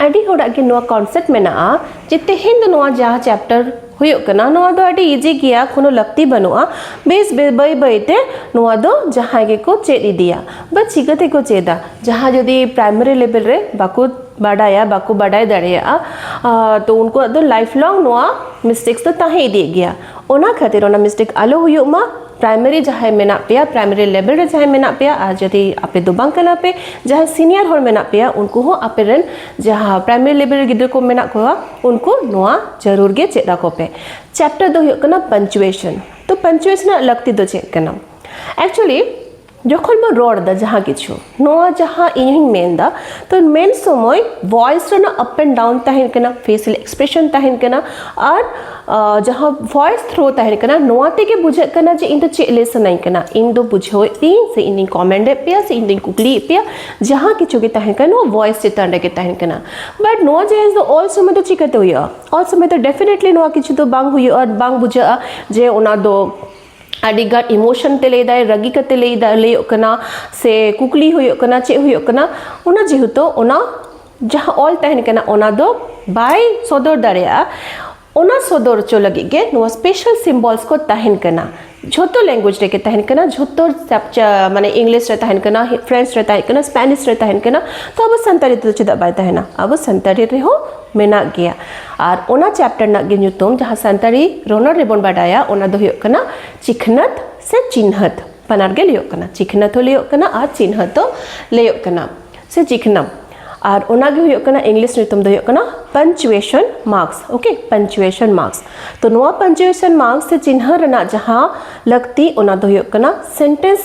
ᱟᱹᱰᱤ ᱦᱚᱲᱟᱜ ᱜᱮ ᱱᱚᱣᱟ ᱠᱚᱱᱥᱮᱯᱴ ᱢᱮᱱᱟᱜᱼᱟ ᱡᱮ ᱛᱮᱦᱮᱧ ᱫᱚ ᱱᱚᱣᱟ ᱡᱟᱦᱟᱸ ᱪᱮᱯᱴᱟᱨ ᱦᱩᱭᱩᱜ ᱠᱟᱱᱟ ᱱᱚᱣᱟ ᱫᱚ ᱟᱹᱰᱤ ᱤᱡᱤ ᱜᱮᱭᱟ ᱠᱳᱱᱳ ᱞᱟᱹᱠᱛᱤ ᱵᱟᱹᱱᱩᱜᱼᱟ ᱵᱮᱥ ᱵᱟᱹᱭ ᱵᱟᱹᱭ ᱛᱮ ᱱᱚᱣᱟ ᱫᱚ ᱡᱟᱦᱟᱸᱭ ᱜᱮᱠᱚ ᱪᱮᱫ ᱤᱫᱤᱭᱟ ᱵᱟ ᱪᱤᱠᱟᱹ ᱛᱮᱠᱚ ᱪᱮᱫᱟ ᱡᱟᱦᱟᱸ ᱡᱩᱫᱤ ᱯᱨᱟᱭᱢᱟᱨᱤ ᱞᱮᱵᱮᱞ ᱨᱮ ᱵᱟᱠᱚ ᱵᱟᱰᱟᱭᱟ ᱵᱟᱠᱚ ᱵᱟᱰᱟᱭ ᱫᱟᱲᱮᱭᱟᱜᱼᱟ ᱛᱚ ᱩᱱᱠᱩᱣᱟᱜ ᱫᱚ ᱞᱟᱭᱤᱯᱷ ᱞᱚᱝ ᱱᱚᱣᱟ ᱢᱤᱥᱴᱮᱠᱥ ᱫᱚ ᱛᱟᱦᱮᱸ ᱤᱫᱤᱜ ᱜᱮᱭᱟ ᱚᱱᱟ ᱠᱷᱟᱹᱛᱤᱨ ᱚᱱᱟ ᱢᱤᱥᱴᱮᱠ ᱟᱞᱚ ᱦᱩᱭᱩᱜ ᱢᱟ ᱯᱨᱟᱭᱢᱟᱨᱤ ᱡᱟᱦᱟᱸᱭ ᱢᱮᱱᱟᱜ ᱯᱮᱭᱟ ᱯᱨᱟᱭᱢᱟᱨᱤ ᱞᱮᱵᱮᱞ ᱨᱮ ᱡᱟᱦᱟᱸᱭ ᱢᱮᱱᱟᱜ ᱯᱮᱭᱟ ᱟᱨ ᱡᱩᱫᱤ ᱟᱯᱮ ᱫᱚ ᱵᱟᱝ ᱠᱟᱱᱟ ᱯᱮ ᱡᱟᱦᱟᱸᱭ ᱥᱤᱱᱤᱭᱟᱨ ᱦᱚᱲ ᱢᱮᱱᱟᱜ ᱯᱮᱭᱟ ᱩᱱᱠᱩ ᱦᱚᱸ ᱟᱯᱮ ᱨᱮᱱ ᱡᱟᱦᱟᱸ ᱯᱨᱟᱭᱢᱟᱨᱤ ᱞᱮᱵᱮᱞ ᱨᱮ ᱜᱤᱫᱽᱨᱟᱹ ᱠᱚ ᱢᱮᱱᱟᱜ ᱠᱚᱣᱟ ᱩᱱᱠᱩ ᱱᱚᱣᱟ ᱡᱟᱹᱨᱩᱲ ᱜᱮ ᱪᱮᱫ ᱟᱠᱚ ᱯᱮ ᱪᱮᱯᱴᱟᱨ ᱫᱚ ᱦᱩᱭᱩᱜ ᱠᱟᱱᱟ ᱯᱟᱱᱪᱩᱭᱮᱥᱚᱱ ᱛᱚ ᱯᱟᱱᱪᱩᱭᱮᱥᱚᱱ ᱨᱮᱱᱟᱜ ᱞᱟᱹᱠᱛᱤ ᱫᱚ ᱪᱮᱫ ᱠᱟᱱᱟ ᱮᱠᱪᱩᱭᱮᱞᱤ ᱡᱚᱠᱷᱚᱱ ᱵᱚᱱ ᱨᱚᱲ ᱮᱫᱟ ᱡᱟᱦᱟᱸ ᱠᱤᱪᱷᱩ ᱱᱚᱣᱟ ᱡᱟᱦᱟᱸ ᱤᱧᱤᱧ ᱢᱮᱱ ᱮᱫᱟ ᱛᱚ ᱢᱮᱱ ᱥᱚᱢᱚᱭ ᱵᱷᱚᱭᱮᱥ ᱨᱮᱱᱟᱜ ᱟᱯ ᱮᱱᱰ ᱰᱟᱣᱩᱱ ᱛᱟᱦᱮᱱ ᱠᱟᱱᱟ ᱯᱷᱮᱥᱤᱭᱟᱞ ᱮᱠᱥᱯᱨᱮᱥᱚᱱ ᱛᱟᱦᱮᱱ ᱠᱟᱱᱟ ᱟᱨ ᱡᱟᱦᱟᱸ ᱵᱷᱚᱭᱮᱥ ᱛᱷᱨᱳ ᱛᱟᱦᱮᱱ ᱠᱟᱱᱟ ᱱᱚᱣᱟ ᱛᱮᱜᱮ ᱵᱩᱡᱷᱟᱹᱜ ᱠᱟᱱᱟ ᱡᱮ ᱤᱧ ᱫᱚ ᱪᱮᱫ ᱞᱟᱹᱭ ᱥᱟᱱᱟᱧ ᱠᱟᱱᱟ ᱤᱧ ᱫᱚ ᱵᱩᱡᱷᱟᱹᱣᱮᱫ ᱯᱮᱭᱟᱹᱧ ᱥᱮ ᱤᱧ ᱫᱚᱧ ᱠᱚᱢᱮᱱᱴ ᱮᱫ ᱯᱮᱭᱟ ᱥᱮ ᱤᱧ ᱫᱚᱧ ᱠᱩᱠᱞᱤᱭᱮᱫ ᱯᱮᱭᱟ ᱡᱟᱦᱟᱸ ᱠᱤᱪᱷᱩ ᱜᱮ ᱛᱟᱦᱮᱱ ᱠᱟᱱᱟ ᱱᱚᱣᱟ ᱵᱷᱚᱭᱮᱥ ᱪᱮᱛᱟᱱ ᱨᱮᱜᱮ ᱛᱟᱦᱮᱱ ᱠᱟᱱᱟ ᱵᱟᱴ ᱱᱚᱣᱟ ᱡᱤᱱᱤᱥ ᱫᱚ ᱚᱞ ᱥᱚᱢᱚᱭ ᱫᱚ ᱪᱤᱠᱟᱹᱛᱮ ᱦᱩᱭᱩᱜᱼᱟ ᱚᱞ ᱥᱚᱢᱚᱭ ᱫᱚ ᱰᱮᱯᱷᱤᱱᱮᱴᱞᱤ ᱱᱚᱣᱟ ᱠᱤᱪᱷᱩ ᱫᱚ ᱵᱟᱝ ᱦᱩᱭᱩᱜᱼᱟ ᱵᱟᱝ ᱵᱩᱡᱷᱟᱹᱜᱼᱟ ᱡᱮ ᱚᱱᱟ ᱫᱚ ᱟᱹᱰᱤ ᱜᱟᱱ ᱤᱢᱳᱥᱚᱱ ᱛᱮ ᱞᱟᱹᱭᱫᱟᱭ ᱨᱟᱹᱜᱤ ᱠᱟᱛᱮ ᱞᱟᱹᱭᱫᱟ ᱞᱟᱹᱭᱚᱜ ᱠᱟᱱᱟ ᱥᱮ ᱠᱩᱠᱞᱤ ᱦᱩᱭᱩᱜ ᱠᱟᱱᱟ ᱪᱮᱫ ᱦᱩᱭᱩᱜ ᱠᱟᱱᱟ ᱚᱱᱟ ᱡᱮᱦᱮᱛᱩ ᱚᱱᱟ ᱡᱟᱦᱟᱸ ᱚᱞ ᱛᱟᱦᱮᱱ ᱠᱟᱱᱟ ᱚᱱᱟ ᱫᱚ ᱵᱟᱭ ᱥᱚᱫᱚᱨ ᱫᱟᱲᱮᱭᱟᱜᱼᱟ ᱚᱱᱟ ᱥᱚᱫᱚᱨ ᱦᱚᱪᱚ ᱞᱟᱹᱜᱤᱫ ᱜᱮ ᱱᱚᱣᱟ ᱥᱯᱮᱥᱟᱞ ᱥᱤᱢᱵᱚᱞᱥ ᱠᱚ ᱛᱟᱦᱮᱱ ᱠᱟᱱᱟ ᱡᱷᱚᱛᱚ ᱞᱮᱝᱜᱩᱭᱮᱡᱽ ᱨᱮᱜᱮ ᱛᱟᱦᱮᱱ ᱠᱟᱱᱟ ᱡᱷᱚᱛᱚ ᱢᱟᱱᱮ ᱤᱝᱞᱤᱥ ᱨᱮ ᱛᱟᱦᱮᱱ ᱠᱟᱱᱟ ᱯᱷᱨᱮᱱᱪ ᱨᱮ ᱛᱟᱦᱮᱸ ᱠᱟᱱᱟ ᱥᱯᱮᱱᱤᱥ ᱨᱮ ᱛᱟᱦᱮᱱ ᱠᱟᱱᱟ ᱛᱚ ᱟᱵᱚ ᱥᱟᱱᱛᱟᱲᱤ ᱛᱮᱫᱚ ᱪᱮᱫᱟᱜ ᱵᱟᱭ ᱛᱟᱦᱮᱱᱟ ᱟᱵᱚ ᱥᱟᱱᱛᱟᱲᱤ ᱨᱮᱦᱚᱸ ᱢᱮᱱᱟᱜ ᱜᱮᱭᱟ ᱟᱨ ᱚᱱᱟ ᱪᱮᱯᱴᱟᱨ ᱨᱮᱱᱟᱜ ᱜᱮ ᱧᱩᱛᱩᱢ ᱡᱟᱦᱟᱸ ᱥᱟᱱᱛᱟᱲᱤ ᱨᱚᱱᱚᱲ ᱨᱮᱵᱚᱱ ᱵᱟᱰᱟᱭᱟ ᱚᱱᱟ ᱫᱚ ᱦᱩᱭᱩᱜ ᱠᱟᱱᱟ ᱪᱤᱠᱷᱱᱟᱹᱛ ᱥᱮ ᱪᱤᱱᱦᱟᱹᱛ ᱵᱟᱱᱟᱨ ᱜᱮ ᱞᱟᱹᱭᱚᱜ ᱠᱟᱱᱟ ᱪᱤᱠᱷᱱᱟᱹᱛ ᱦᱚᱸ ᱞᱟᱹᱭᱚᱜ ᱠᱟᱱᱟ ᱟᱨ ᱪᱤᱱᱦᱟᱹᱛ ᱦᱚᱸ ᱞᱟᱹᱭᱚᱜ ᱠᱟᱱᱟ ᱥᱮ ᱪᱤᱠᱷᱱᱟᱢ ᱟᱨ ᱚᱱᱟ ᱜᱮ ᱦᱩᱭᱩᱜ ᱠᱟᱱᱟ ᱤᱝᱞᱤᱥ ᱧᱩᱛᱩᱢ ᱫᱚ ᱦᱩᱭᱩᱜ ᱠᱟᱱᱟ punctuation marks okay punctuation marks ᱛᱚ ᱱᱚᱣᱟ ᱯᱟᱱᱪᱩᱭᱮᱥᱚᱱ ᱢᱟᱨᱠᱥ ᱥᱮ ᱪᱤᱱᱦᱟᱹ ᱨᱮᱱᱟᱜ ᱡᱟᱦᱟᱸ ᱞᱟᱹᱠᱛᱤ ᱚᱱᱟ ᱫᱚ ᱦᱩᱭᱩᱜ ᱠᱟᱱᱟ ᱥᱮᱱᱴᱮᱱᱥ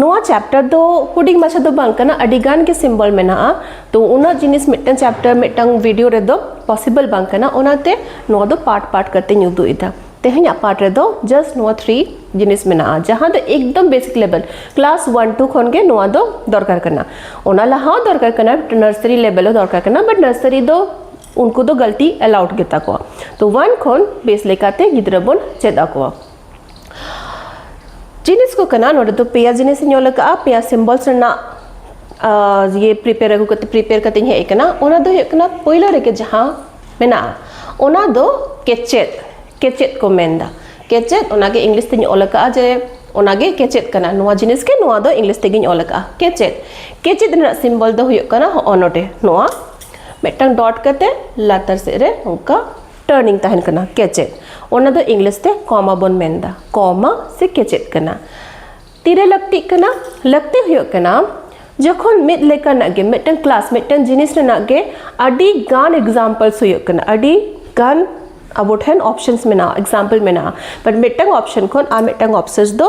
ᱱᱚᱣᱟ ᱪᱮᱯᱴᱟᱨ ᱫᱚ ᱦᱩᱰᱤᱧ ᱢᱟᱪᱷᱟ ᱫᱚ ᱵᱟᱝ ᱠᱟᱱᱟ ᱟᱹᱰᱤ ᱜᱟᱱ ᱜᱮ ᱥᱤᱢᱵᱚᱞ ᱢᱮᱱᱟᱜᱼᱟ ᱛᱚ ᱩᱱᱟᱹᱜ ᱡᱤᱱᱤᱥ ᱢᱤᱫᱴᱟᱝ ᱪᱮᱯᱴᱟᱨ ᱢᱤᱫᱴᱟᱝ ᱵᱷᱤᱰᱤᱭᱳ ᱨᱮᱫᱚ ᱯᱚᱥᱤᱵᱚᱞ ᱵᱟᱝ ᱠᱟᱱᱟ ᱚᱱᱟᱛᱮ ᱱᱚᱣᱟ ᱫᱚ ᱯᱟᱨᱴ ᱯᱟᱨᱴ ᱠᱟᱛᱮᱧ ᱩᱫᱩᱜ ᱮᱫᱟ ᱛᱮᱦᱮᱧᱟᱜ ᱯᱟᱨᱴ ᱨᱮᱫᱚ ᱡᱟᱥᱴ ᱱᱚᱣᱟ ᱛᱷᱨᱤ ᱡᱤᱱᱤᱥ ᱢᱮᱱᱟᱜᱼᱟ ᱡᱟᱦᱟᱸ ᱫᱚ ᱮᱠᱫᱚᱢ ᱵᱮᱥᱤᱠ ᱞᱮᱵᱮᱞ ᱠᱞᱟᱥ ᱚᱣᱟᱱ ᱴᱩ ᱠᱷᱚᱱ ᱜᱮ ᱱᱚᱣᱟ ᱫᱚ ᱫᱚᱨᱠᱟᱨ ᱠᱟᱱᱟ ᱚᱱᱟ ᱞᱟᱦᱟ ᱦᱚᱸ ᱫᱚᱨᱠᱟᱨ ᱠᱟᱱᱟ ᱱᱟᱨᱥᱟᱨᱤ ᱞᱮᱵᱮᱞ ᱦᱚᱸ ᱫᱚᱨᱠᱟᱨ ᱠᱟᱱᱟ ᱵᱟᱴ ᱱᱟᱨᱥᱟᱨᱤ ᱫᱚ ᱩᱱᱠᱩ ᱫᱚ ᱜᱟᱹᱞᱛᱤ ᱮᱞᱟᱣᱩᱰ ᱜᱮᱛᱟ ᱠᱚᱣᱟ ᱛᱚ ᱚᱣᱟᱱ ᱠᱷᱚᱱ ᱵᱮᱥ ᱞᱮᱠᱟᱛᱮ ᱜᱤᱫᱽᱨᱟᱹ ᱵᱚᱱ ᱪᱮᱫ ᱟᱠᱚᱣᱟ ᱡᱤᱱᱤᱥ ᱠᱚ ᱠᱟᱱᱟ ᱱᱚᱰᱮ ᱫᱚ ᱯᱮᱭᱟ ᱡᱤᱱᱤᱥ ᱤᱧ ᱚᱞ ᱟᱠᱟᱫᱼᱟ ᱯᱮᱭᱟ ᱥᱤᱢᱵᱚᱞᱥ ᱨᱮᱱᱟᱜ ᱤᱭᱟᱹ ᱯᱨᱤᱯᱮᱭᱟᱨ ᱟᱹᱜᱩ ᱠᱟᱛᱮ ᱯᱨᱤᱯᱮᱭᱟᱨ ᱠᱟᱛᱮ ᱤᱧ ᱦᱮᱡ ᱟᱠᱟᱱᱟ ᱚᱱᱟ ᱫᱚ ᱦᱩᱭᱩᱜ ᱠᱟᱱᱟ ᱯᱳᱭᱞᱳ ᱨᱮᱜᱮ ᱡᱟᱦᱟᱸ ᱢᱮᱱᱟᱜᱼᱟ ᱚᱱᱟ ᱫᱚ ᱠᱮᱪᱮᱫ ᱠᱮᱪᱮᱫ ᱠᱚ ᱢᱮᱱᱫᱟ ᱠᱮᱪᱮᱫ ᱚᱱᱟᱜᱮ ᱤᱝᱞᱤᱥ ᱛᱮᱧ ᱚᱞ ᱟᱠᱟᱫᱼᱟ ᱡᱮ ᱚᱱᱟᱜᱮ ᱠᱮᱪᱮᱫ ᱠᱟᱱᱟ ᱱᱚᱣᱟ ᱡᱤᱱᱤᱥ ᱜᱮ ᱱᱚᱣᱟ ᱫᱚ ᱤᱝᱞᱤᱥ ᱛᱮᱜᱮᱧ ᱚᱞ ᱟᱠᱟᱫᱼᱟ ᱠᱮᱪᱮᱫ ᱠᱮᱪᱮᱫ ᱨᱮᱱᱟᱜ ᱥᱤᱢᱵᱚᱞ ᱫᱚ ᱦᱩᱭᱩᱜ ᱠᱟᱱᱟ ᱦᱚᱸᱜᱼᱚ ᱱᱚᱰᱮ ᱱᱚᱣᱟ ᱢᱤᱫᱴᱟᱝ ᱰᱚᱴ ᱠᱟᱛᱮ ᱞᱟᱛᱟᱨ ᱥᱮᱫ ᱨᱮ ᱚᱱᱠᱟ ᱴᱟᱨᱱᱤᱝ ᱛᱟᱦᱮᱱ ᱠᱟᱱᱟ ᱠᱮᱪᱮᱫ ᱚᱱᱟ ᱫᱚ ᱤᱝᱞᱤᱥ ᱛᱮ ᱠᱚᱢᱟ ᱵᱚᱱ ᱢᱮᱱᱫᱟ ᱠᱚᱢᱟ ᱥᱮ ᱠᱮᱪᱮᱫ ᱠᱟᱱᱟ ᱛᱤᱨᱮ ᱞᱟᱹᱠᱛᱤᱜ ᱠᱟᱱᱟ ᱞᱟᱹᱠᱛᱤ ᱦᱩᱭᱩᱜ ᱠᱟᱱᱟ ᱡᱚᱠᱷᱚᱱ ᱢᱤᱫ ᱞᱮᱠᱟᱱᱟᱜ ᱜᱮ ᱢᱤᱫᱴᱟᱝ ᱠᱞᱟᱥ ᱢᱤᱫᱴᱟᱝ ᱡᱤᱱᱤᱥ ᱨᱮᱱᱟᱜ ᱜᱮ ᱟᱹᱰᱤ ᱜᱟᱱ ᱮᱠᱡᱟᱢᱯᱞᱥ ᱦᱩᱭᱩᱜ ᱠᱟᱱᱟ ᱟᱹᱰᱤ ᱜᱟᱱ ᱟᱵᱚ ᱴᱷᱮᱱ ᱚᱯᱥᱮᱱᱥ ᱢᱮᱱᱟᱜᱼᱟ ᱮᱠᱡᱟᱢᱯᱞ ᱢᱮᱱᱟᱜᱼᱟ ᱵᱟᱴ ᱢᱤᱫᱴᱟᱝ ᱚᱯᱥᱮᱱ ᱠᱷᱚᱱ ᱟᱨ ᱢᱤᱫᱴᱟᱝ ᱚᱯᱥᱮᱱᱥ ᱫᱚ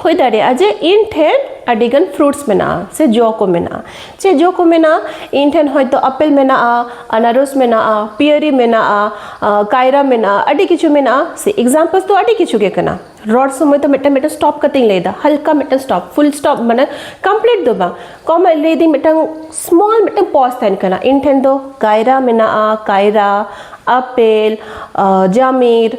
ᱦᱩᱭ ᱫᱟᱲᱮᱭᱟᱜᱼᱟ ᱡᱮ ᱤᱧ ᱴᱷᱮᱱ ᱟᱹᱰᱤᱜᱟᱱ ᱯᱷᱨᱩᱴᱥ ᱢᱮᱱᱟᱜᱼᱟ ᱥᱮ ᱡᱚ ᱠᱚ ᱢᱮᱱᱟᱜᱼᱟ ᱪᱮᱫ ᱡᱚ ᱠᱚ ᱢᱮᱱᱟᱜᱼᱟ ᱤᱧ ᱴᱷᱮᱱ ᱦᱚᱭᱛᱳ ᱟᱯᱮᱞ ᱢᱮᱱᱟᱜᱼᱟ ᱟᱱᱟᱨᱚᱥ ᱢᱮᱱᱟᱜᱼᱟ ᱯᱤᱭᱟᱹᱨᱤ ᱢᱮᱱᱟᱜᱼᱟ ᱠᱟᱭᱨᱟ ᱢᱮᱱᱟᱜᱼᱟ ᱟᱹᱰᱤ ᱠᱤᱪᱷᱩ ᱢᱮᱱᱟᱜᱼᱟ ᱥᱮ ᱮᱠᱡᱟᱢᱯᱚᱞ ᱫᱚ ᱟᱹᱰᱤ ᱠᱤᱪᱷᱩ ᱜᱮ ᱠᱟᱱᱟ ᱨᱚᱲ ᱥᱚᱢᱚᱭ ᱫᱚ ᱢᱤᱫᱴᱟᱝ ᱢᱤᱫᱴᱟᱝ ᱥᱴᱚᱯ ᱠᱟᱛᱮᱧ ᱞᱟᱹᱭᱫᱟ ᱦᱟᱞᱠᱟ ᱢᱤᱫᱴᱟᱝ ᱥᱴᱚᱯ ᱯᱷᱩᱞ ᱥᱴᱚᱯ ᱢᱟᱱᱮ ᱠᱚᱢᱯᱞᱤᱴ ᱫᱚ ᱵᱟᱝ ᱠᱚᱢ ᱞᱟᱹᱭᱫᱟᱹᱧ ᱢᱤᱫᱴᱟᱝ ᱥᱢᱚᱞ ᱢᱤᱫᱴᱟᱝ ᱯᱚᱡᱽ ᱛᱟᱦᱮᱱ ᱠᱟᱱᱟ ᱤᱧ ᱴᱷᱮᱱ ᱫᱚ ᱠᱟᱭᱨᱟ ᱢᱮᱱᱟᱜᱼᱟ ᱠᱟᱭᱨᱟ ᱟᱯᱮᱞ ᱡᱟᱢᱤᱨ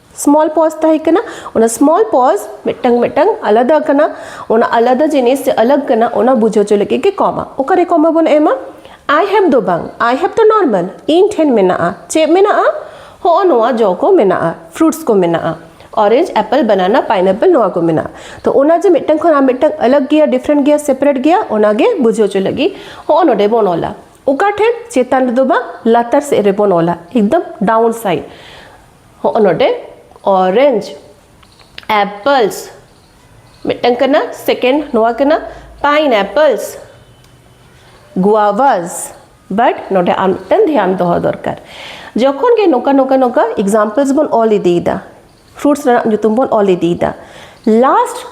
ᱥᱢᱚᱞ ᱯᱚᱡᱽ ᱛᱟᱦᱮᱸ ᱠᱟᱱᱟ ᱚᱱᱟ ᱥᱢᱚᱞ ᱯᱚᱡᱽ ᱢᱤᱫᱴᱟᱝ ᱢᱤᱫᱴᱟᱝ ᱟᱞᱟᱫᱟ ᱠᱟᱱᱟ ᱚᱱᱟ ᱟᱞᱟᱫᱟ ᱡᱤᱱᱤᱥ ᱥᱮ ᱟᱞᱟᱜᱽ ᱠᱟᱱᱟ ᱚᱱᱟ ᱵᱩᱡᱷᱟᱹᱣ ᱦᱚᱪᱚ ᱞᱟᱹᱜᱤᱫ ᱜᱮ ᱠᱚᱢᱟ ᱚᱠᱟᱨᱮ ᱠᱚᱢᱟ ᱵᱚᱱ ᱮᱢᱟ ᱟᱭ ᱦᱮᱵᱽ ᱫᱚ ᱵᱟᱝ ᱟᱭ ᱦᱮᱵᱽ ᱫᱚ ᱱᱚᱨᱢᱟᱞ ᱤᱧ ᱴᱷᱮᱱ ᱢᱮᱱᱟᱜᱼᱟ ᱪᱮᱫ ᱢᱮᱱᱟᱜᱼᱟ ᱦᱚᱸᱜᱼᱚ ᱱᱚᱣᱟ ᱡᱚ ᱠᱚ ᱢᱮᱱᱟᱜᱼᱟ ᱯᱷᱨᱩᱴᱥ ᱠᱚ ᱢᱮᱱᱟᱜᱼᱟ ᱚᱨᱮᱧᱡᱽ ᱮᱯᱮᱞ ᱵᱟᱱᱟᱱᱟ ᱯᱟᱭᱱᱟᱯᱮᱞ ᱱᱚᱣᱟ ᱠᱚ ᱢᱮᱱᱟᱜᱼᱟ ᱛᱚ ᱚᱱᱟ ᱡᱮ ᱢᱤᱫᱴᱟᱝ ᱠᱷᱚᱱ ᱟᱨ ᱢᱤᱫᱴᱟᱝ ᱟᱞᱟᱜᱽ ᱜᱮᱭᱟ ᱰᱤᱯᱷᱨᱮᱱᱴ ᱜᱮᱭᱟ ᱥᱮᱯᱟᱨᱮᱴ ᱜᱮᱭᱟ ᱚᱱᱟᱜᱮ ᱵᱩᱡᱷᱟᱹᱣ ᱦᱚᱪᱚ ᱞᱟᱹᱜᱤᱫ ᱦᱚᱸᱜᱼᱚ ᱱᱚᱰᱮ ᱵᱚᱱ ᱚᱞᱟ ᱚᱠᱟ ᱴᱷᱮᱱ ᱪᱮᱛᱟᱱ ᱨᱮᱫᱚ ᱵᱟᱝ ᱞᱟᱛᱟᱨ ᱥᱮᱫ ᱨᱮᱵᱚᱱ ᱚᱞᱟ ᱮᱠᱫᱚᱢ ᱰᱟᱣᱩᱱ ᱥᱟᱭᱤᱰ ᱦᱚᱸᱜᱼᱚ ᱱᱚᱰᱮ ᱚᱨᱮᱧᱡᱽ ᱮᱯᱯᱞᱥ ᱢᱤᱫᱴᱟᱝ ᱠᱟᱱᱟ ᱥᱮᱠᱮᱱᱰ ᱱᱚᱣᱟ ᱠᱟᱱᱟ ᱯᱟᱭᱤᱱ ᱮᱯᱯᱞᱥ ᱜᱩᱣᱟᱵᱷᱟᱥ ᱵᱟᱴ ᱱᱚᱰᱮ ᱟᱨ ᱢᱤᱫᱴᱟᱝ ᱫᱷᱮᱭᱟᱱ ᱫᱚᱦᱚ ᱫᱚᱨᱠᱟᱨ ᱡᱚᱠᱷᱚᱱ ᱜᱮ ᱱᱚᱝᱠᱟ ᱱᱚᱝᱠᱟ ᱱᱚᱝᱠᱟ ᱮᱠᱡᱟᱢᱯᱞᱥ ᱵᱚᱱ ᱚᱞ ᱤᱫᱤᱭᱮᱫᱟ ᱯᱷᱨᱩᱴᱥ ᱨᱮᱱᱟᱜ ᱧᱩᱛᱩᱢ ᱵᱚᱱ ᱚᱞ ᱤᱫᱤᱭᱮᱫᱟ ᱞᱟᱥᱴ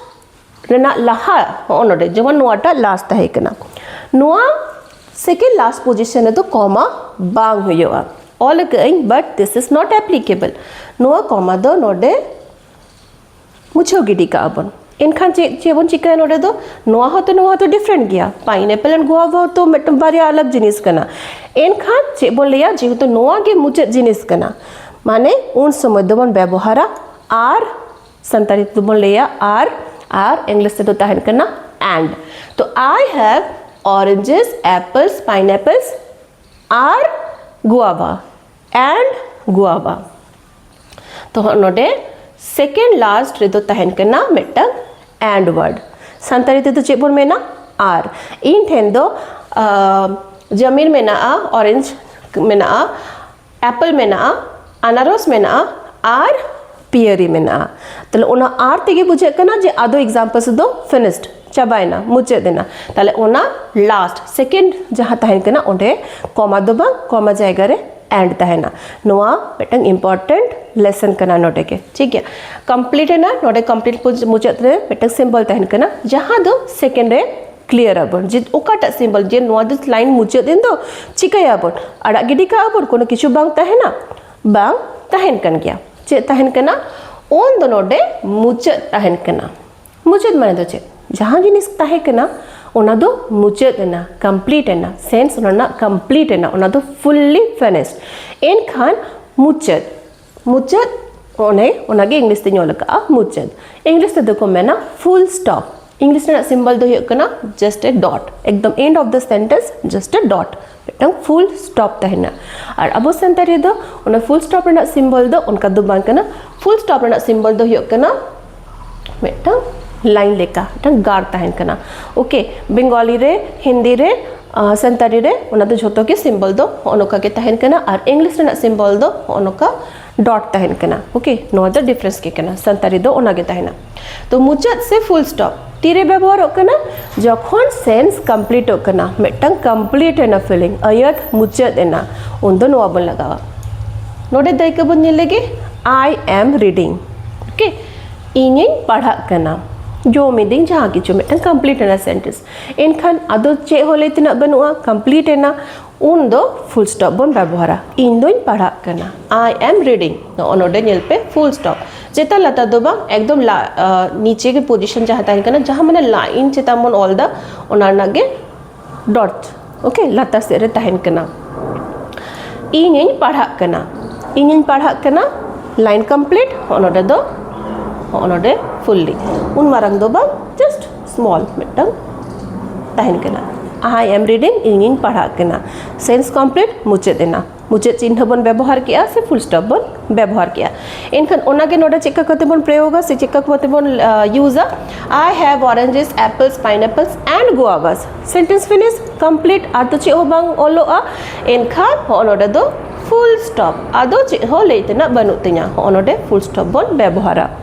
ᱨᱮᱱᱟᱜ ᱞᱟᱦᱟ ᱦᱚᱸᱜᱼᱚ ᱱᱚᱰᱮ ᱡᱮᱢᱚᱱ ᱱᱚᱣᱟᱴᱟᱜ ᱞᱟᱥ ᱛᱟᱦᱮᱸ ᱠᱟᱱᱟ ᱱᱚᱣᱟ ᱥᱮᱠᱮᱱᱰ ᱞᱟᱥ ᱯᱚᱡᱤᱥᱚᱱ ᱨᱮᱫᱚ ᱠᱚᱢᱟ ᱵᱟᱝ ᱦᱩᱭᱩᱜᱼᱟ ᱚᱞ ᱟᱠᱟᱫᱟᱹᱧ ᱵᱟᱴ ᱫᱤᱥ ᱤᱡ ᱱᱚᱴ ᱮᱯᱞᱤᱠᱮᱵᱚᱞ ᱱᱚᱣᱟ ᱠᱚᱢᱟ ᱫᱚ ᱱᱚᱰᱮ ᱢᱩᱪᱷᱟᱹᱣ ᱜᱤᱰᱤ ᱠᱟᱜᱼᱟ ᱵᱚᱱ ᱮᱱᱠᱷᱟᱱ ᱪᱮᱫ ᱪᱮᱫ ᱵᱚᱱ ᱪᱤᱠᱟᱹᱭᱟ ᱱᱚᱰᱮ ᱫᱚ ᱱᱚᱣᱟ ᱦᱚᱸᱛᱚ ᱱᱚᱣᱟ ᱦᱚᱸᱛᱚ ᱰᱤᱯᱷᱨᱮᱱᱴ ᱜᱮᱭᱟ ᱯᱟᱭᱤᱱᱮᱯᱮᱞ ᱮᱱᱰ ᱜᱩᱣᱟᱵᱷᱟ ᱦᱚᱸᱛᱚ ᱢᱤᱫᱴᱟᱝ ᱵᱟᱨᱭᱟ ᱟᱞᱟᱜᱽ ᱡᱤᱱᱤᱥ ᱠᱟᱱᱟ ᱮᱱᱠᱷᱟᱱ ᱪᱮᱫ ᱵᱚᱱ ᱞᱟᱹᱭᱟ ᱡᱮᱦᱮᱛᱩ ᱱᱚᱣᱟ ᱜᱮ ᱢᱩᱪᱟᱹᱫ ᱡᱤᱱᱤᱥ ᱠᱟᱱᱟ ᱢᱟᱱᱮ ᱩᱱ ᱥᱚᱢᱚᱭ ᱫᱚᱵᱚᱱ ᱵᱮᱵᱚᱦᱟᱨᱟ ᱟᱨ ᱥᱟᱱᱛᱟᱲᱤ ᱛᱮᱫᱚ ᱵᱚᱱ ᱞᱟᱹᱭᱟ ᱟᱨ ᱟᱨ ᱤᱝᱞᱤᱥ ᱛᱮᱫᱚ ᱛᱟᱦᱮᱱ ᱠᱟᱱᱟ ᱮᱱᱰ ᱛᱚ ᱟᱭ ᱦᱮᱵ ᱚᱨᱮᱧᱡᱮᱥ ᱮᱯᱮᱞᱥ ᱯᱟᱭᱱᱮᱯᱮᱞᱥ ᱟᱨ ᱜᱩᱣᱟᱵᱟ ᱮᱱᱰ ᱜᱩᱣᱟᱵᱟ ᱛᱚ ᱱᱚᱰᱮ ᱥᱮᱠᱮᱱᱰ ᱞᱟᱥᱴ ᱨᱮᱫᱚ ᱛᱟᱦᱮᱱ ᱠᱟᱱᱟ ᱢᱤᱫᱴᱟᱝ ᱮᱱᱰ ᱣᱟᱨᱰ ᱥᱟᱱᱛᱟᱲᱤ ᱛᱮᱫᱚ ᱪᱮᱫ ᱵᱚᱱ ᱢᱮᱱᱟ ᱟᱨ ᱤᱧ ᱴᱷᱮᱱ ᱫᱚ ᱡᱟᱢᱤᱨ ᱢᱮᱱᱟᱜᱼᱟ ᱚᱨᱮᱧᱡᱽ ᱢᱮᱱᱟᱜᱼᱟ ᱮᱯᱮᱞ ᱢᱮᱱᱟᱜᱼᱟ ᱟᱱᱟᱨᱚᱥ ᱢᱮᱱᱟᱜᱼᱟ ᱟᱨ ᱯᱤᱭᱟᱹᱨᱤ ᱢᱮᱱᱟᱜᱼᱟ ᱛᱟᱦᱞᱮ ᱚᱱᱟ ᱟᱨ ᱛᱮᱜᱮ ᱵᱩᱡᱷᱟᱹᱜ ᱠᱟᱱᱟ ᱡᱮ ᱟᱫᱚ ᱮᱠᱡᱟᱢᱯᱚᱞᱥ ᱫᱚ ᱯᱷᱤᱱᱤᱥᱰ ᱪᱟᱵᱟᱭᱮᱱᱟ ᱢᱩᱪᱟᱹᱫ ᱮᱱᱟ ᱛᱟᱦᱞᱮ ᱚᱱᱟ ᱞᱟᱥᱴ ᱥᱮᱠᱮᱱᱰ ᱡᱟᱦᱟᱸ ᱛᱟᱦᱮᱱ ᱠᱟᱱᱟ ᱚᱸᱰᱮ ᱠᱚᱢᱟ ᱫᱚ ᱵᱟᱝ ᱠᱚᱢᱟ ᱡᱟᱭᱜᱟ ᱨᱮ ᱮᱱᱰ ᱛᱟᱦᱮᱱᱟ ᱱᱚᱣᱟ ᱢᱤᱫᱴᱟᱝ ᱤᱢᱯᱚᱨᱴᱮᱱᱴ ᱞᱮᱥᱚᱱ ᱠᱟᱱᱟ ᱱᱚᱰᱮ ᱜᱮ ᱴᱷᱤᱠ ᱜᱮᱭᱟ ᱠᱚᱢᱯᱞᱤᱴ ᱮᱱᱟ ᱱᱚᱰᱮ ᱠᱚᱢᱯᱞᱤᱴ ᱢᱩᱪᱟᱹᱫ ᱨᱮ ᱢᱤᱫᱴᱟᱝ ᱥᱤᱢᱵᱚᱞ ᱛᱟᱦᱮᱱ ᱠᱟᱱᱟ ᱡᱟᱦᱟᱸ ᱫᱚ ᱥᱮᱠᱮᱱᱰ ᱨᱮ ᱠᱞᱤᱭᱟᱨ ᱟᱵᱚᱱ ᱡᱮ ᱚᱠᱟᱴᱟᱜ ᱥᱤᱢᱵᱚᱞ ᱡᱮ ᱱᱚᱣᱟ ᱫᱚ ᱞᱟᱭᱤᱱ ᱢᱩᱪᱟᱹᱫ ᱮᱱ ᱫᱚ ᱪᱤᱠᱟᱹᱭᱟᱵᱚᱱ ᱟᱲᱟᱜ ᱜᱤᱰᱤ ᱠᱟᱜᱼᱟ ᱵᱚᱱ ᱠᱳᱱᱳ ᱠᱤᱪᱷᱩ ᱵᱟᱝ ᱛᱟᱦᱮᱱᱟ ᱵᱟᱝ ᱛᱟᱦᱮᱱ ᱠᱟᱱ ᱜᱮᱭᱟ ᱪᱮᱫ ᱛᱟᱦᱮᱱ ᱠᱟᱱᱟ ᱚᱱ ᱫᱚ ᱱᱚᱰᱮ ᱢᱩᱪᱟᱹᱫ ᱛᱟᱦᱮᱱ ᱠᱟᱱᱟ ᱢᱩᱪᱟᱹᱫ ᱢᱟᱱᱮ ᱫᱚ ᱪᱮᱫ ᱡᱟᱦᱟᱸ ᱡᱤᱱᱤᱥ ᱛᱟᱦᱮᱸ ᱠᱟᱱᱟ ᱚᱱᱟ ᱫᱚ ᱢᱩᱪᱟᱹᱫ ᱮᱱᱟ ᱠᱚᱢᱯᱞᱤᱴ ᱮᱱᱟ ᱥᱮᱱᱥ ᱚᱱᱟ ᱨᱮᱱᱟᱜ ᱠᱚᱢᱯᱞᱤᱴ ᱮᱱᱟ ᱚᱱᱟ ᱫᱚ ᱯᱷᱩᱞᱞᱤ ᱯᱷᱤᱱᱤᱥᱰ ᱮᱱᱠᱷᱟᱱ ᱢᱩᱪᱟᱹᱫ ᱢᱩᱪᱟᱹᱫ ᱚᱱᱮ ᱚᱱᱟᱜᱮ ᱤᱝᱞᱤᱥ ᱛᱮᱧ ᱚᱞ ᱟᱠᱟᱫᱼᱟ ᱢᱩᱪᱟᱹᱫ ᱤᱝᱞᱤᱥ ᱛᱮᱫᱚ ᱠᱚ ᱢᱮᱱᱟ ᱯᱷᱩᱞ ᱥᱴᱚᱯ ᱤᱝᱞᱤᱥ ᱨᱮᱱᱟᱜ ᱥᱤᱢᱵᱚᱞ ᱫᱚ ᱦᱩᱭᱩᱜ ᱠᱟᱱᱟ ᱡᱟᱥᱴ ᱮ ᱰᱚᱴ ᱮᱠᱫᱚᱢ end of the sentence just a dot ᱢᱤᱫᱴᱟᱝ ᱯᱷᱩᱞ ᱥᱴᱚᱯ ᱛᱟᱦᱮᱱᱟ ᱟᱨ ᱟᱵᱚ ᱥᱟᱱᱛᱟᱲᱤ ᱨᱮᱫᱚ ᱚᱱᱟ ᱯᱷᱩᱞ ᱥᱴᱚᱯ ᱨᱮᱱᱟᱜ ᱥᱤᱢᱵᱚᱞ ᱫᱚ ᱚᱱᱠᱟ ᱫᱚ ᱵᱟᱝ ᱠᱟᱱᱟ ᱯᱷᱩᱞ ᱥᱴᱚᱯ ᱨᱮᱱᱟᱜ ᱥᱤᱢᱵᱚᱞ ᱫᱚ ᱦᱩᱭᱩᱜ ᱠᱟᱱᱟ ᱢᱤᱫᱴᱟᱝ ᱞᱟᱭᱤᱱ ᱞᱮᱠᱟ ᱢᱤᱫᱴᱟᱝ ᱜᱟᱨ ᱛᱟᱦᱮᱱ ᱠᱟᱱᱟ ᱳᱠᱮ ᱵᱮᱝᱜᱚᱞᱤ ᱨᱮ ᱦᱤᱱᱫᱤ ᱨᱮ ᱥᱟᱱᱛᱟᱲᱤ ᱨᱮ ᱚᱱᱟ ᱫᱚ ᱡᱷᱚᱛᱚ ᱜᱮ ᱥᱤᱢᱵᱚᱞ ᱫᱚ ᱦᱚᱜᱼᱚ ᱱᱚᱝᱠᱟ ᱜᱮ ᱛᱟᱦᱮᱱ ᱠᱟᱱᱟ ᱟᱨ ᱤᱝᱞᱤᱥ ᱨᱮᱱᱟᱜ ᱥᱤᱢᱵᱚᱞ ᱫᱚ ᱦᱚᱜᱼᱚ ᱱᱚᱝᱠᱟ ᱰᱚᱴ ᱛᱟᱦᱮᱱ ᱠᱟᱱᱟ ᱳᱠᱮ ᱱᱚᱣᱟ ᱫᱚ ᱰᱤᱯᱷᱟᱨᱮᱱᱥ ᱜᱮ ᱠᱟᱱᱟ ᱥᱟᱱᱛᱟᱲᱤ ᱫᱚ ᱚᱱᱟ ᱜᱮ ᱛᱟᱦᱮᱱᱟ ᱛᱚ ᱢᱩᱪᱟᱹᱫ ᱥᱮ ᱯᱷᱩᱞ ᱥᱴᱚᱯ ᱛᱤᱨᱮ ᱵᱮᱵᱚᱦᱟᱨᱚᱜ ᱠᱟᱱᱟ ᱡᱚᱠᱷᱚᱱ ᱥᱮᱱᱥ ᱠᱚᱢᱯᱞᱤᱴᱚᱜ ᱠᱟᱱᱟ ᱢᱤᱫᱴᱟᱝ ᱠᱚᱢᱯᱞᱤᱴ ᱮᱱᱟ ᱯᱷᱤᱞᱤᱝ ᱟᱹᱭᱟᱹᱛ ᱢᱩᱪᱟᱹᱫ ᱮᱱᱟ ᱩᱱᱫᱚ ᱱᱚᱣᱟ ᱵᱚᱱ ᱞᱟᱜᱟᱣᱟ ᱱᱚᱰᱮ ᱫᱟᱹᱭᱠᱟᱹ ᱵᱚᱱ ᱧᱮᱞ ᱞᱮᱜᱮ ᱟᱭ ᱮᱢ ᱨᱤᱰᱤᱝ ᱳᱠᱮ ᱤᱧᱤᱧ ᱯᱟᱲᱦᱟᱜ ᱠᱟᱱᱟ ᱡᱚᱢ ᱮᱫᱟᱹᱧ ᱡᱟᱦᱟᱸ ᱠᱤᱪᱷᱩ ᱢᱤᱫᱴᱟᱝ ᱠᱚᱢᱯᱞᱤᱴ ᱮᱱᱟ ᱥᱮᱱᱴᱮᱱᱥ ᱮᱱᱠᱷᱟᱱ ᱟᱫᱚ ᱪᱮᱫ ᱦᱚᱸ ᱞᱟᱹᱭ ᱛᱮᱱᱟᱜ ᱵᱟᱹᱱᱩᱜᱼᱟ ᱠᱚᱢᱯᱞᱤᱴ ᱮᱱᱟ ᱩᱱ ᱫᱚ ᱯᱷᱩᱞ ᱥᱴᱚᱯ ᱵᱚᱱ ᱵᱮᱵᱚᱦᱟᱨᱟ ᱤᱧ ᱫᱚᱧ ᱯᱟᱲᱦᱟᱜ ᱠᱟᱱᱟ ᱟᱭ ᱮᱢ ᱨᱤᱰᱤᱝ ᱱᱚᱜᱼᱚ ᱱᱚᱰᱮ ᱧᱮᱞ ᱯᱮ ᱯᱷᱩᱞ ᱥᱴᱚᱯ ᱪᱮᱛᱟᱱ ᱞᱟᱛᱟᱨ ᱫᱚ ᱵᱟᱝ ᱮᱠᱫᱚᱢ ᱱᱤᱪᱮ ᱜᱮ ᱯᱚᱡᱤᱥᱚᱱ ᱡᱟᱦᱟᱸ ᱛᱟᱦᱮᱱ ᱠᱟᱱᱟ ᱡᱟᱦᱟᱸ ᱢᱟᱱᱮ ᱞᱟᱭᱤᱱ ᱪᱮᱛᱟᱱ ᱵᱚᱱ ᱚᱞ ᱮᱫᱟ ᱚᱱᱟ ᱨᱮᱱᱟᱜ ᱜᱮ ᱰᱚᱴ ᱳᱠᱮ ᱞᱟᱛᱟᱨ ᱥᱮᱫ ᱨᱮ ᱛᱟᱦᱮᱱ ᱠᱟᱱᱟ ᱤᱧᱤᱧ ᱯᱟᱲᱦᱟᱜ ᱠᱟᱱᱟ ᱤᱧᱤᱧ ᱯᱟᱲᱦᱟᱜ ᱠᱟᱱᱟ ᱞᱟᱭᱤᱱ ᱠᱚᱢᱯᱞᱤᱴ ᱦᱚᱸᱜᱼᱚ ᱱᱚᱰᱮ ᱫᱚ ᱦᱚᱸᱜᱼᱚ ᱱᱚᱰᱮ ᱯᱷᱩᱞᱞᱤ ᱩᱱ ᱢᱟᱨᱟᱝ ᱫᱚ ᱵᱟᱝ ᱡᱟᱥᱴ ᱥᱢᱚᱞ ᱢᱤᱫᱴᱟᱝ ᱛᱟᱦᱮᱱ ᱠᱟᱱᱟ ᱟᱭ ᱮᱢ ᱨᱤᱰᱤᱝ ᱤᱧᱤᱧ ᱯᱟᱲᱦᱟᱜ ᱠᱟᱱᱟ ᱥᱮᱱᱥ ᱠᱚᱢᱯᱞᱤᱴ ᱢᱩᱪᱟᱹᱫ ᱮᱱᱟ ᱢᱩᱪᱟᱹᱫ ᱪᱤᱱᱦᱟᱹ ᱵᱚᱱ ᱵᱮᱵᱚᱦᱟᱨ ᱠᱮᱜᱼᱟ ᱥᱮ ᱯᱷᱩᱞ ᱥᱴᱚᱯ ᱵᱚᱱ ᱵᱮᱵᱚᱦᱟᱨ ᱠᱮᱜᱼᱟ ᱮᱱᱠᱷᱟᱱ ᱚᱱᱟᱜᱮ ᱱᱚᱰᱮ ᱪᱮᱫᱠᱟ ᱠᱟᱛᱮ ᱵᱚᱱ ᱯᱨᱚᱭᱳᱜᱟ ᱥᱮ ᱪᱮᱫᱠᱟ ᱠᱟᱛᱮ ᱵᱚᱱ ᱤᱭᱩᱡᱟ I have oranges apples pineapples and guavas sentence finish complete ᱟᱨ ᱛᱚ ᱪᱮᱫ ᱦᱚᱸ ᱵᱟᱝ ᱚᱞᱚᱜᱼᱟ ᱮᱱᱠᱷᱟᱱ ᱦᱚᱸᱜᱼᱚ ᱱᱚᱰᱮ ᱫᱚ ᱯᱷᱩᱞ ᱥᱴᱚᱯ ᱟᱫᱚ ᱪᱮᱫ ᱦᱚᱸ ᱞᱟᱹᱭ ᱛᱮᱱᱟᱜ ᱵᱟᱹᱱᱩᱜ ᱛᱤᱧᱟ ᱦᱚᱸᱜᱼᱚ ᱱᱚᱰᱮ ᱯᱷᱩᱞ ᱥᱴᱚᱯ ᱵᱚᱱ ᱵᱮᱵᱚᱦᱟᱨᱟ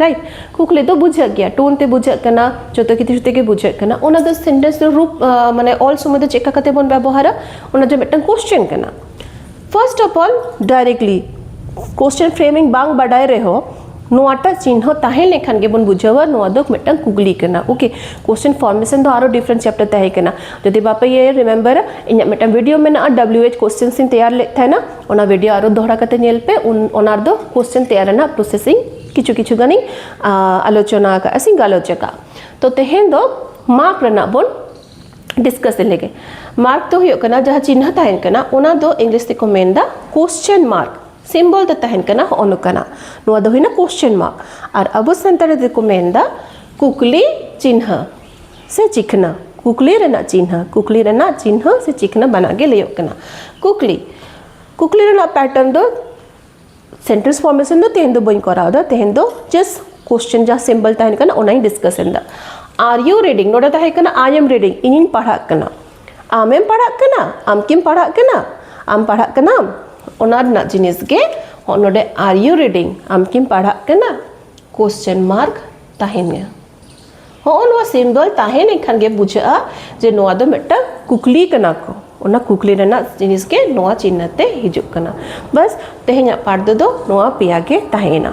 ᱨᱟᱭᱤᱴ ᱠᱩᱠᱞᱤ ᱫᱚ ᱵᱩᱡᱷᱟᱹᱜ ᱜᱮᱭᱟ ᱴᱳᱱ ᱛᱮ ᱵᱩᱡᱷᱟᱹᱜ ᱠᱟᱱᱟ ᱡᱚᱛᱚ ᱠᱤᱪᱷᱩ ᱛᱮᱜᱮ ᱵᱩᱡᱷᱟᱹᱜ ᱠᱟᱱᱟ ᱚᱱᱟ ᱫᱚ ᱥᱮᱱᱴᱮᱱᱥ ᱫᱚ ᱨᱩᱯ ᱢᱟᱱᱮ ᱚᱞ ᱥᱚᱢᱚᱭ ᱫᱚ ᱪᱮᱫᱠᱟ ᱠᱟᱛᱮ ᱵᱚᱱ ᱵᱮᱵᱚᱦᱟᱨᱟ ᱚᱱᱟ ᱫᱚ ᱢᱤᱫᱴᱟᱝ ᱠᱚᱥᱪᱮᱱ ᱠᱟᱱᱟ first of all directly question framing ᱵᱟᱝ ᱵᱟᱰᱟᱭ ᱨᱮᱦᱚᱸ ᱱᱚᱣᱟᱴᱟᱜ ᱪᱤᱱᱦᱚ ᱛᱟᱦᱮᱸ ᱞᱮᱱᱠᱷᱟᱱ ᱜᱮᱵᱚᱱ ᱵᱩᱡᱷᱟᱹᱣᱟ ᱱᱚᱣᱟ ᱫᱚ ᱢᱤᱫᱴᱟᱝ ᱠᱩᱠᱞᱤ ᱠᱟᱱᱟ ᱳᱠᱮ ᱠᱚᱥᱪᱮᱱ ᱯᱷᱚᱨᱢᱮᱥᱚᱱ ᱫᱚ ᱟᱨᱚ ᱰᱤᱯᱷᱟᱨᱮᱱᱴ ᱪᱮᱯᱴᱟᱨ ᱛᱟᱦᱮᱸ ᱠᱟᱱᱟ ᱡᱩᱫᱤ ᱵᱟᱯᱮ ᱤᱭᱟᱹᱭᱟ ᱨᱤᱢᱮᱢᱵᱟᱨᱟ ᱤᱧᱟᱹᱜ ᱢᱤᱫᱴᱟᱝ ᱵᱷᱤᱰᱤᱭᱳ ᱢᱮᱱᱟᱜᱼᱟ ᱰᱟᱵᱞᱤᱭᱩ ᱮᱭᱤᱪ ᱠᱚᱥᱪᱮᱱᱥ ᱤᱧ ᱛᱮᱭᱟᱨ ᱞᱮᱫ ᱛᱟᱦᱮᱱᱟ ᱚᱱᱟ ᱵᱷᱤᱰᱤᱭᱳ ᱟᱨᱚ ᱫᱚᱦᱲᱟ ᱠᱟᱛᱮ ᱧᱮᱞ ᱯᱮ ᱚᱱᱟ ᱨᱮᱫᱚ ᱠᱚᱥᱪᱮᱱ ᱛᱮᱭᱟᱨ ᱨᱮᱱᱟᱜ ᱯᱨᱚᱥᱮᱥ ᱤᱧ ᱠᱤᱪᱷᱩ ᱠᱤᱪᱷᱩ ᱜᱟᱱᱤᱧ ᱟᱞᱳᱪᱚᱱᱟ ᱟᱠᱟᱫᱼᱟ ᱥᱮᱧ ᱜᱟᱞᱚᱪ ᱟᱠᱟᱫᱼᱟ ᱛᱚ ᱛᱮᱦᱮᱧ ᱫᱚ ᱢᱟᱯ ᱨᱮᱱᱟᱜ ᱵᱚᱱ ᱰᱤᱥᱠᱟᱥ ᱞᱮᱜᱮ ᱢᱟᱨᱠ ᱫᱚ ᱦᱩᱭᱩᱜ ᱠᱟᱱᱟ ᱡᱟᱦᱟᱸ ᱪᱤᱱᱦᱟᱹ ᱛᱟᱦᱮᱱ ᱠᱟᱱᱟ ᱚᱱᱟ ᱫᱚ ᱤᱝᱞᱤᱥ ᱛᱮᱠᱚ ᱢᱮᱱᱫᱟ ᱠᱚᱥᱪᱮᱱ ᱢᱟᱨᱠ ᱥᱤᱢᱵᱚᱞ ᱫᱚ ᱛᱟᱦᱮᱱ ᱠᱟᱱᱟ ᱦᱚᱸᱜᱼᱚ ᱱᱚᱝᱠᱟᱱᱟᱜ ᱱᱚᱣᱟ ᱫᱚ ᱦᱩᱭᱱᱟ ᱠᱚᱥᱪᱮᱱ ᱢᱟᱨᱠ ᱟᱨ ᱟᱵᱚ ᱥᱟᱱᱛᱟᱲᱤ ᱛᱮᱠᱚ ᱢᱮᱱᱫᱟ ᱠᱩᱠᱞᱤ ᱪᱤᱱᱦᱟᱹ ᱥᱮ ᱪᱤᱠᱱᱟ ᱠᱩᱠᱞᱤ ᱨᱮᱱᱟᱜ ᱪᱤᱱᱦᱟᱹ ᱠᱩᱠᱞᱤ ᱨᱮᱱᱟᱜ ᱪᱤᱱᱦᱟᱹ ᱥᱮ ᱪᱤᱠᱱᱟ ᱵᱟᱱᱟᱨ ᱜᱮ ᱞᱟᱹᱭᱚᱜ ᱠᱟᱱᱟ ᱠᱩᱠᱞᱤ ᱠᱩᱠᱞᱤ ᱨᱮᱱᱟᱜ ᱯᱮᱴᱟᱨᱱ ᱫᱚ ᱥᱮᱱᱴᱮᱱᱥ ᱯᱷᱚᱨᱢᱮᱥᱚᱱ ᱫᱚ ᱛᱮᱦᱮᱧ ᱫᱚ ᱵᱟᱹᱧ ᱠᱚᱨᱟᱣ ᱮᱫᱟ ᱛᱮᱦᱮᱧ ᱫᱚ ᱡᱟᱥᱴ ᱠᱚᱥᱪᱮᱱ ᱡᱟᱦᱟᱸ ᱥᱤᱢᱵᱚᱞ ᱛᱟᱦᱮᱱ ᱠᱟᱱᱟ ᱚᱱᱟᱧ ᱰᱤᱥᱠᱟᱥ ᱮᱫᱟ ᱟᱨ ᱤᱭᱩ ᱨᱤᱰᱤᱝ ᱱᱚᱰᱮ ᱛᱟᱦᱮᱸ ᱠᱟᱱᱟ ᱟᱭ ᱮᱢ ᱨᱤᱰᱤᱝ ᱤᱧᱤᱧ ᱯᱟᱲᱦᱟᱜ ᱠᱟᱱᱟ ᱟᱢᱮᱢ ᱯᱟᱲᱦᱟᱜ ᱠᱟᱱᱟ ᱟᱢ ᱠᱤᱢ ᱯᱟᱲᱦᱟᱜ ᱠᱟᱱᱟ ᱟᱢ ᱯᱟᱲᱦᱟᱜ ᱠᱟᱱᱟᱢ ᱚᱱᱟ ᱨᱮᱱᱟᱜ ᱡᱤᱱᱤᱥ ᱜᱮ ᱱᱚᱰᱮ ᱟᱨ ᱤᱭᱩ ᱨᱤᱰᱤᱝ ᱟᱢ ᱠᱤᱢ ᱯᱟᱲᱦᱟᱜ ᱠᱟᱱᱟ ᱠᱚᱥᱪᱮᱱ ᱢᱟᱨᱠ ᱛᱟᱦᱮᱱᱟ ᱦᱚᱸᱜᱼᱚ ᱱᱚᱣᱟ ᱥᱤᱢ ᱫᱚᱞ ᱛᱟᱦᱮᱸ ᱞᱮᱱᱠᱷᱟᱱ ᱜᱮ ᱵᱩᱡᱷᱟᱹᱜᱼᱟ ᱡᱮ ᱱᱚᱣᱟ ᱫᱚ ᱢᱤᱫᱴᱟᱝ ᱠᱩᱠᱞᱤ ᱠᱟᱱᱟ ᱠᱚ ᱚᱱᱟ ᱠᱩᱠᱞᱤ ᱨᱮᱱᱟᱜ ᱡᱤᱱᱤᱥ ᱜᱮ ᱱᱚᱣᱟ ᱪᱤᱱᱦᱟᱹ ᱛᱮ ᱦᱤᱡᱩᱜ ᱠᱟᱱᱟ ᱵᱟᱥ ᱛᱮᱦᱮᱧᱟᱜ ᱯᱟᱴ ᱫᱚ ᱱᱚᱣᱟ ᱯᱮᱭᱟ ᱜᱮ ᱛᱟᱦᱮᱸᱭᱮᱱᱟ